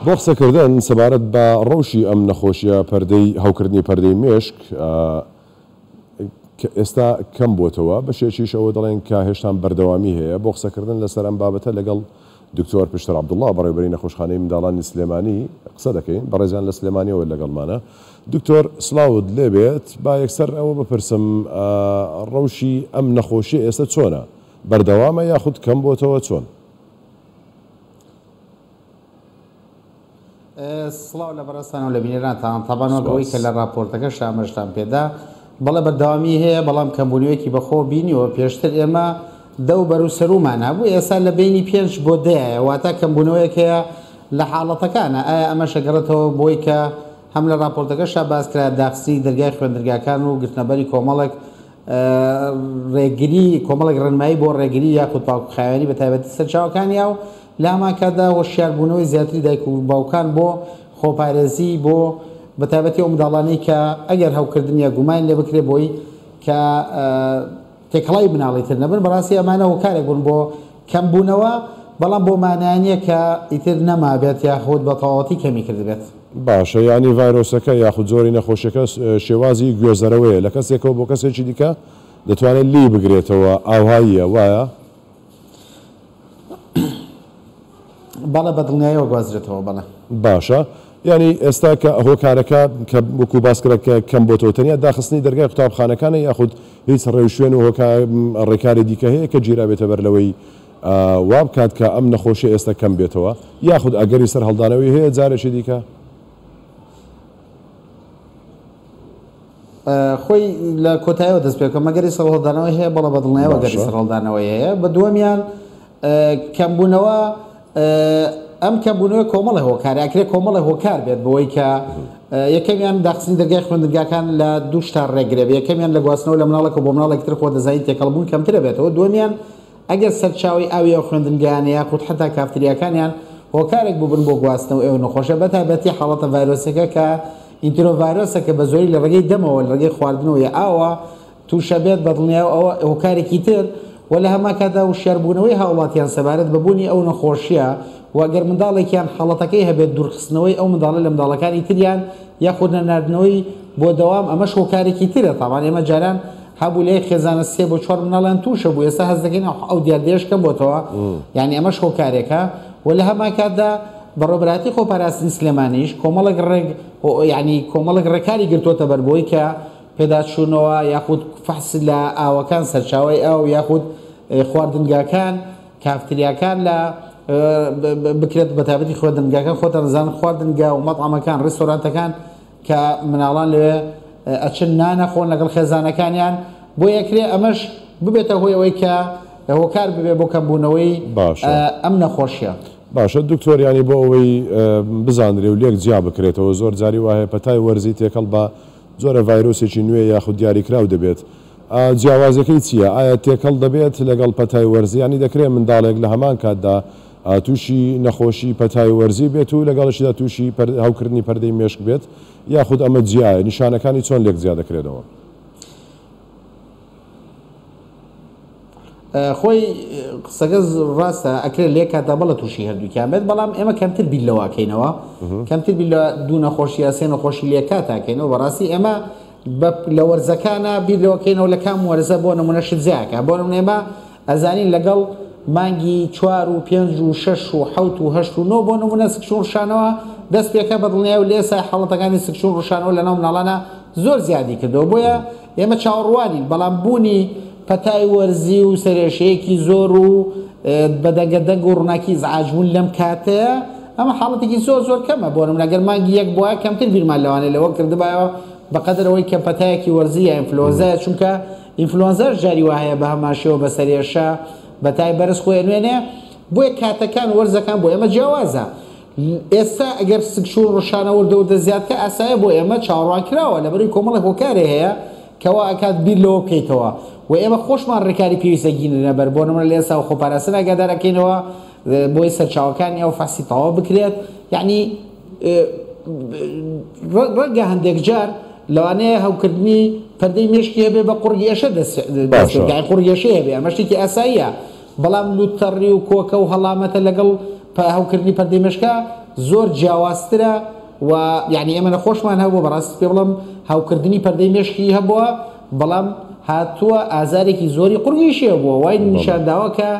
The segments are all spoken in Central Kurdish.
بۆ قسەکردن سەبارەت بە ڕەوشی ئەم نەخۆشیە پەردەی هەوکردنی پەردەی مێشک کە ئێستا کەم بۆتەوە بەشێکیش ئەوە دەڵێن کە هێشتان بەردەوامی هەیە بۆ قسەکردن لەسەر ئەم بابەتە لەگەڵ دکتۆر پشتر عبدوڵڵا بەڕێوبەری نەخۆشخانەی منداڵانی سلێمانی قسە دەکەین بەڕێزیان لە سلێمانیەوە لەگەڵمانە دکتۆر سلااوت لێبێت با یەکسەر ئەوە بپرسم ڕەوشی ئەم نەخۆشی ئێستا چۆنە بەردەوامە یاخود کەم بۆتەوە چۆن سڵاو لە بەڕێزتان و لە بینەرانتان تابان وەک ئەوەی کە لە راپۆرتەکە شامەشتان پێدا بەڵێ بەردەوامی هەیە بەڵام کەمبوونەوەیەکی بەخۆ بینیوە پێشتر ئێمە دە و بەر و سەرومان هەبوو ئێستا لە بینی پێنج بۆ دەیە واتا کەمبوونەوەیەک هەیە لە حاڵەتەکانە ئایا ئەمە شەگەڕێتەوە بۆی کە هەم لە راپۆرتەکە شاباز کرا داخستی دەرگای خوێندرگاکان و گرتنەبەری کۆمەڵک ڕێگری کۆمەڵک ڕنمایی بۆ ڕێگری یاخود پاکخاوێنی بە تایبەتی سەرچاوەکانیا و لەهەمانکاتدا هۆشیاربوونەوەی زیاتری دایک و باوکان بۆ خۆپارێزی بۆ بەتایبەتی ئەو منداڵانەی کە ئەگەر هەوکردن یا گومانیان لێ بکرێت بۆی کە تێکەڵاوی منداڵی تر نەبن بەڕاستی ئەمانە هۆکارێک بوون بۆ کەم بوونەوە بەڵام بۆ مانا نییە کە ئیتر نەمابێت یاخود بە تەواوەتی کەمی کردبێت. باشە یانی ڤایرۆسەکە یاخود جۆری نەخۆشیەکە شێوازی گوێزەرەوەیە لە کەسێکەوە بۆ کەسێکی دیکە دەتوانێت لێی بگرێتەوە ئاوهاییە وایە؟ بەڵێ بە دڵنیایەوە گوازرێتەوە بەڵێ. باشە یانی ئێستا کە هۆکارەکە کە وەکو باس کرا کە کەم بۆتەوە تەنیا داخستنی دەرگای قوتابخانەکانە یاخود هیچ ڕێوشوێن و هۆکا ڕێکاری دیکە هەیە کە گیرابێتە بەر لەوەی وا بکات کە ئەم نەخۆشیە ئێستا کەم بێتەوە یاخود ئەگەری سەر هەڵدانەوەی هەیە جارێکی دیکە؟ خۆی لە کۆتایەوە دەست پێ بکەم مەگەری سەرهەڵدانەوەی هەیە بەڵە بەدڵنیایەوە گەری سەرهەڵدانەوەی هەیە بە دووەمیان کەمبوونەوە ئەم کەمبوونەوە کۆمەڵە هۆکار ئەکرێ کۆمەڵە هۆکار بێت بەوەی کە یەکەمیان داخستنی دەرگای خوێندنگاکان لە دوو شتار ڕێگرێ یەکەمیان لە گواستنەوە لە مناڵەکە بۆ مناڵێکتر خۆ دەزانین تێکەڵبوون کەمترە بێتەوە دومیان ئەگەر سەرچاوەی ئاوی ئەو خوێندنگایانە یاخود حەتا کافتریاکانیان هۆکارێک بووبن بۆ گواستنەوەی ئەو نەخۆشە بەتایبەتی حاڵەتە ڤایرۆسیەکە کە ئینترۆڤایرۆسە کە بەزۆری لە ڕێگەی دەمەوە لە ڕێگەی خواردنەوە یا ئاوەوە تووشە بێت بەدڵنیایەوە ئەوە هۆکارێکی تر و لە هەمانکاتدا وشیاربوونەوەی هاوڵاتیان سەبارەت بە بوونی ئەو نەخۆشیە و گەر منداڵێکیان حاڵەتەکەی هەبێت دوورخستنەوەی ئەو منداڵە لە منداڵەکانی تریان یاخود نەناردنەوەی بۆ دەوام ئەمەش هۆکارێکی ترە تاوان ئێمە جاران هەبوو لەیەک خێزانە سێ بۆ چوار مناڵیان تووشە بوو ئێستا هەست دەکەین ئەو دیاردەیەش کەم بۆتەوە یعنی ئەمەش هۆکارێکە و لە هەمان کاتدا بەڕێوبەراتی خۆ پاراستنی سلێمانیش کۆمەڵێک ڕێک یعنی کۆمەڵێک ڕێکاری گرتووەتە بەربۆی کە پێداچوونەوە یاخود فەحس لە ئاوەکان سەرچاوی ئاو یاخود خواردنگاکان کافتریاکان لە بکرێت بەتابەتی خوێندنگاکان خۆتان دەزانن خواردنگا و مەتعەمەکان ڕێستۆرانتەکان کە مناڵان لەوێ ئەچن نان ئەخۆن لەگەڵ خێزانەکانیان بۆ ئەکرێ ئەمەش ببێتە هۆی ئەوەی کە هۆکار ببێ بۆ کەم بوونەوەی ئەم نەخۆشیە. باشە دکتۆر یانی بۆ ئەوەی بزانرێ و لێک جیا بکرێتەوە زۆر جاری وا هەیە پەتای وەرزی تێکەڵ بە جۆرە ڤایرۆسێکی نوێ یاخود دیاری کراو دەبێت ئا جیاوازیەکەی چیە ئایا تێکەڵ دەبێت لەگەڵ پەتای وەرزی یانی دەکرێ منداڵێک لە هەمان کاتدا تووشی نەخۆشی پەتای وەرزی بێت و لەگەڵیشیدا تووشی هەوکردنی پەردەی مێشک بێت یاخود ئەمە جیایە؟ نیشانەکانی چۆن لێک جیا دەکرێنەوە؟ خۆی قسەکە ڕاستە ئەکرێت لە یەک کاتدا بەڵە تووشی هەردووکیان بێت بەڵام ئێمە کەمتر بیر لەواکەینەوە کەمتر بیر لە دوو نەخۆشی یاسێن و خۆشی لە کاتاکەینەوە بەڕاستی ئێمە لە وەرزەکانە بیر لەوەکەینەوە لە کام وەرزە بۆ نمونە شت زیاکە بۆ نمونێمە ئەزانین لەگەڵ مانگی چوار و پێنج و شەش و حەوت و هەشت و نۆ بۆ نموونە سکچوون ڕشانەوە دەست پێکا بە دڵنیای و لە ئێستا حاڵەتەکانی سکچوون ڕشانەوە لەناو مناڵانا زۆر زیادی کردەوە بۆیە ئێمە چاوەڕوانین بەڵام بوونی پەتای وەرزی و سەرێشەیەکی زۆر و بە دەنگە دەنگ و ڕووناکی ئیزعاج بوون لەم کاتەیە ئەمە حاڵەتێکی زۆر زۆر کەمە بۆ نموونە گەر مانگی یەک بوایە کەمتر بیرمان لەوانەیە لەوە کردبایەوە بەقەدەر ئەوەی کە پەتایەکی وەرزی یا ئینفلۆنزایە چونکە ئینفلۆنزاش جاری واهەیە بەهەمان شێوە بەسەر هێرشە بەتای بەرز خۆی ئەنوێنێ بۆیە کاتەکان وەرزەکان بۆ ئێمە جیاوازە ئێستا گەر سکچون ڕشانە وردە وردە زیادکە ئاسایە بۆ ئێمە چاوەڕوان کراوە لەبەروی کۆمەڵی هۆکارێ هەیە کەوا ئەکات بیر لەوە بکەیتەوە و ئێمە خۆشمان ڕێکاری پێویستە گینرنە بەر بۆ نمرە لە ئێستا و خۆپاراستن ئەگادارەکەینەوە بۆی سەرچاوەکانی ئەو فەسی تەواو بکرێت یعنی ڕەنگە هەندێک جار لەوانەیە هەوکردنی پەردەی مێشکی هەبێ بە قڕگێشە دەستگای قڕگێشەی هەبێ ئەمە شتێکی ئاساییە بەڵام لوتەڕی و کۆکە و هەڵامەتە لەگەڵ هەوکردنی پەردەی مێشکە زۆر جیاوازترە و یعنی ئێمە نەخۆشمان هەبوو بەڕاستی پێ بڵم هاوکردنی پەردەی مێشکی هەبووە بەڵام هاتووە ئازارێکی زۆری قڕگیشیە بووە وای نیشانداوە کە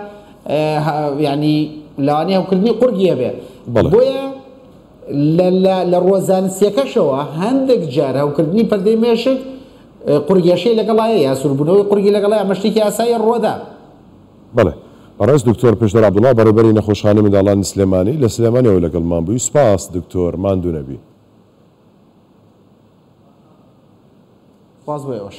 یانی لەوانەیە هەوکردنی قوڕگی هەبێ بۆیە لە ڕووە زانستیەکەشەوە هەندێک جار هەوکردنی پەردەی مێشک قورگێشەی لەگەڵایە یا سوربوونەوەی قورگی لەگەڵای ئەمە شتێکی ئاسایی ڕووەدا. بەڵێ بەڕێز دکتۆر پێشتر عەبدوڵا بەڕێوبەری نەخۆشخانەی منداڵانی سلێمانی لە سلێمانیەوە لەگەڵمان بووی سوپاس دکتۆر ماندوو نەبی. سپاس بۆ ئێوەش.